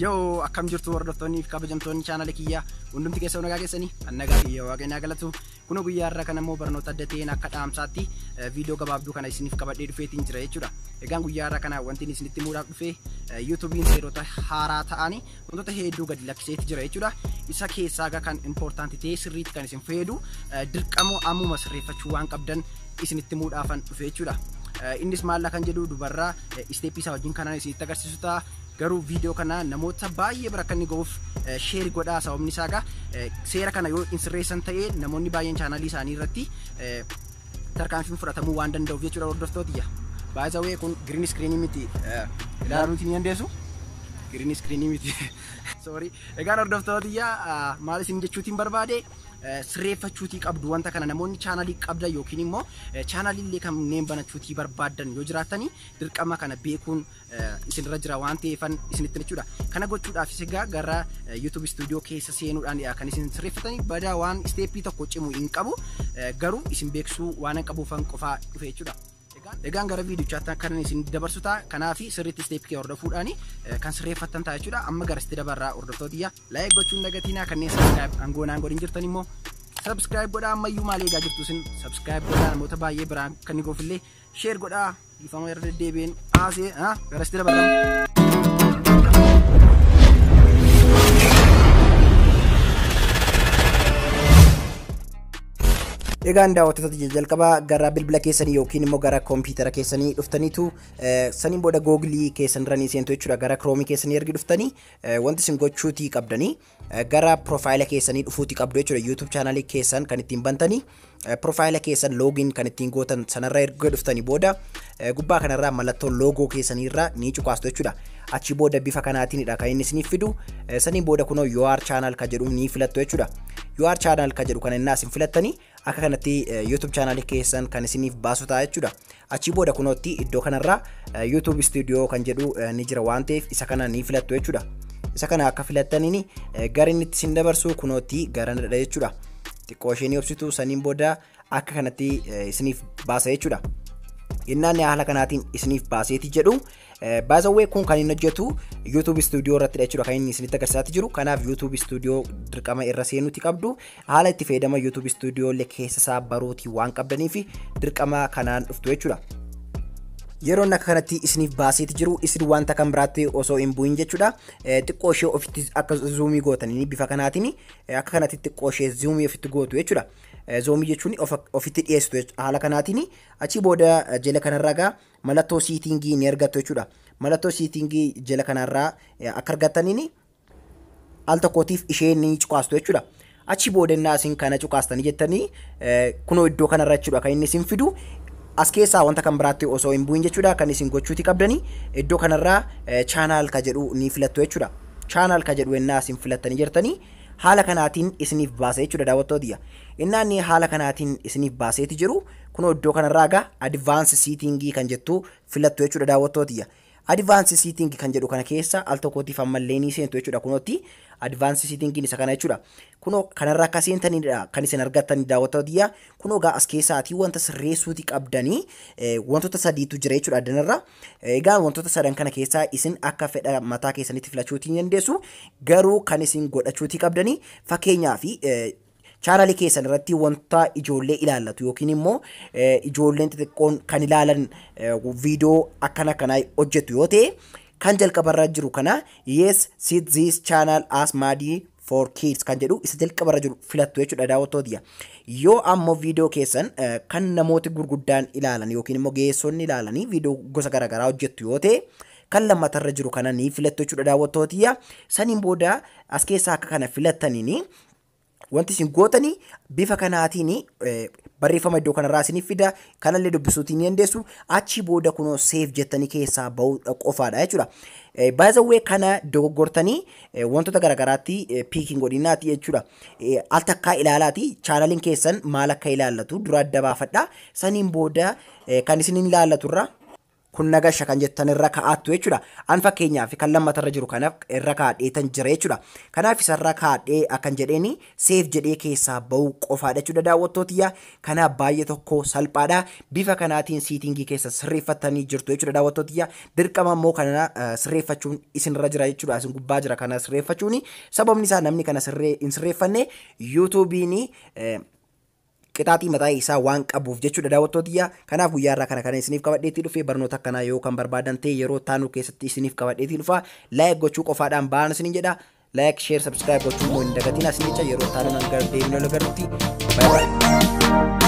Yoo akkam jirtu hordoftoonni fi kabajamtoonni chaanala kiyyaa hundumti keessa nagaa keessanii kan nagaa fi waaqayyaa galatu kunoo guyyaa irraa kan ammoo barnoota adda ta'een akka dhaamsaatti viidiyoo gabaabduu kana isiniif qabadhee dhufeetiin jira jechuudha. Egaan guyyaa irraa kana wanti isinitti muudhaaf dhufee yuutuubiin seerota haaraa ta'anii wantoota hedduu gadi lakkiseeti jira jechuudha. Isa keessaa egaa kan impoortaanti ta'ee sirriitti kan isin fayyadu dirqamoo ammuma sirreeffachuu waan qabdan isinitti muudhaafan dhufe jechuudha. Innis maallaa kan jedhu dubarraa isteeppii isaa wajjin kanaan isinitti agarsiisu ta'a. Garuu viidiyoo kana namoota baay'ee bira akka inni ga'uuf sheeri godhaa sababni isaa egaa seera kana yoo hin sirreessan ta'e namoonni baay'een chaanaalii isaanii irratti tarkaanfiin fudhatamuu waan danda'uuf jechuudha hordoftootiyya. By the way kun green screen miti ilaaluu ni dandeessu. Green screen miti. Sorry. Egaan hordoftootiyya maal isin jechuutiin barbaade sirreeffachuutii qabdu wanta kana namoonni chaanaalii qabdan yookiin immoo chaanaalii illee kanneen banachuutii barbaaddan yoo jiraatanii dirqama kana beekuun isinirra jira waan ta'eefan isinitti jechuudha. Kana gochuudhaafis egaa gara YouTube studio keessa seenuudhaan kan isin sirreeffatanii badaa waan isteeppii tokko cimu hin qabu garuu isin beeksisuu waan hin qabuufan qofaa dhufe jechuudha. Egaan gara viidiyochaatti kan isin dabarsu ta'a. Kanaaf sirriitti isteeppii kee hordofuudhaan kan sirreeffattan ta'a jechuudha. Amma gara itti dabarraa hordoftoota iyyaa laayik gochuun dagatiinaa kanneen sabiskiraayib aangoo naan godhin jirtan immoo sabiskiraayib godhaa ammayyuu maal eegaa jirtu isin sabiskiraayib godhaa namoota baay'ee biraan kan ni goofillee sheer godhaa Dhiifama irra deddeebiin haasee gara sitti dabalama. Egaan daawwattoota jijjiirraa jalqabaa gara bilbila keessanii yookiin immoo gara kompiitara keessanii dhuftaniitu eh, saniin booda googilii keessan irra ni seentu jechuudha gara kiroomii keessanii ergi dhuftanii eh, wanti isin gochuutii qabdanii gara profile keessanii dhufuuti qabdu jechuudha YouTube channel keessan kan ittiin bantanii profile keessan login kan ittiin gootan sanarra erga dhuftanii booda gubbaa kanarraa mallattoo loogoo keessaniirraa ni cuqaastu jechuudha achi booda bifa kanaatiinidha kan inni isiniif fidu saniin booda kunoo your channel ka jedhu ni filattu jechuudha your channel ka jedhu kana innaa isin filattanii Akka kanatti YouTube channel keessan kan isiniif baasu ta'a jechuudha. Achii booda kunootti iddoo kanarraa YouTube Studio kan jedhu ni jira waan ta'eef isa kana ni filattu jechuudha. Isa kana akka filattaniin gara inni itti isin dabarsu kunootti garanadha jechuudha. Xiqqoo ishee ni obsitu saniin booda akka kanatti isiniif baasa jechuudha. Innaan haala kanaatiin isiniif baaseeti jedhu. Baazawwee kun kan inni hojjetu YouTube Studio irratti jechuudha kan inni isinitti agarsiisaati jiru. Kanaaf YouTube Studio dirqama irra seenuuti qabdu. Haala itti fayyadama YouTube Studio illee keessa isaa baruutii waan qabdaniif dirqama kanaan dhuftu jechuudha. Yeroon akka kanatti isiniif baaseeti jiru isin wanta kan biraatti osoo hin bu'in jechuudha. Xiqqoo ishee ofitti akka zuumii gootanii bifa kanaatiin akka kanatti xiqqoo ishee zuumii ofitti gootu jechuudha. Zoomii jechuun ofitti dhiyeessitu haala kanaatiin achi booda jala kanarraa egaa mallattoo siitingii ni argattu jechuudha. Mallattoo siitingii jala kanarraa akka argattaniin al tokkootiif ishee ni cuqaastu jechuudha. Achi booda innaa isin kana cuqaastanii jettanii eh, kunoo iddoo kanarra jechuudha kan inni isin fidu as keessaa wanta kan biraatti osoo hin bu'in jechuudha kan isin gochuuti qabdanii iddoo kanarraa eh, chaanaal ka jedhu ni filattu jechuudha. Chaanaal ka jedhu innaa isin filattanii jirtanii haala kanaatiin isiniif baasa jechuudha daawwattootiyya. Innaa inni haala kanaatiin isiniif baaseeti jiru kunoo iddoo kanarraa egaa advaance siitingii kan jettu filattu jechuudha daawwattootiyya. Advance sitting kan jedhu kana keessa al tokkootiif ammallee ni seentu jechuudha. Kunootti advance sitting isa kana jechuudha. Kunoo kanarraa akka seentanidha kan isin argattan daawwattoota tiyya. Kunoo egaa as keessaatii wanta sirreessuuti qabdanii wantoota sadiitu jira jechuudha addanarra. Egaa wantoota sadan kana keessaa isin akka fedha mataa keessanitti filachuuti ni dandeessu. Garuu kan isin godhachuuti qabdanii fakkeenyaaf Channel keessan irratti wanta ijoollee ilaallatu yookiin immoo ijoolleen xixiqqoon kan ilaalan viidiyoo akkana kanaa hojjetu yoo ta'e kan jalqabarra jiru kana yes sit this channel as maadii for kids kan jedhu isa jalqabarra jiru filattu jechuudha daawwattootiyya. Yoo ammoo viidiyoo keessan kan namooti gurguddaan ilaalan yookiin immoo geessonni ilaalanii viidiyoo gosa garaagaraa hojjettu yoo ta'e kan lammatarra jiru kana ni filattu jechuudha daawwattootiyya. Saniin booda as keessaa akka kana filattaniin Wanti isin gootanii bifa kanaatiin barreeffama iddoo kanarraa isiniif fida. Kanallee dubbisuutii ni dandeessu. Achi booda kunoo seef jettanii keessaa ba'uudha qofaadha jechuudha. Baay'ee kana dogoggortanii wantoota garaagaraatti piikiin godhinaati jechuudha. Al takkaa ilaalaati chaanaliin keessan maal akka ilaallatu dura adda baafadha. Saniin booda kan isiniin ilaallatu irraa Kun na gasha kan jettan irra kaa'attu jechuudha. An fakkeenyaaf kan lammata irra jiru kana irra kaa'adheetan jira jechuudha. Kanaaf isarra kaa'adhee akkan jedheeni seef jedhee keessaa ba'uu qofaadha jechuudha daawwattootiyya. Kanaaf baay'ee tokko salphaadha. Bifa kanaatiin siitingii keessan sirreeffattanii jirtu jechuudha daawwattootiyya. Dirqama immoo kana sirreeffachuun isinirra jira jechuudha. Isin gubbaa jira kana sirreeffachuuni. Sababni isaa namni kana sirree hin sirreeffanne yuutuubiini qixaaxii mataa isaa waan qabuuf jechuudha daawwattoo tiyya kanaaf guyyaa irraa kana kana isiniif qabadheetii dhufe barnoota akkanaa yoo kan barbaadan ta'e yeroo taanuu keessatti isiniif qabadheetii dhufa laayik gochuu qofaadhaan ba'aan isiniin jedha laayik sheer sabskiraayib gochuu immoo hin dagatiin asii jecha yeroo taanuu nan gara deemnee wal agarrutti baay'ee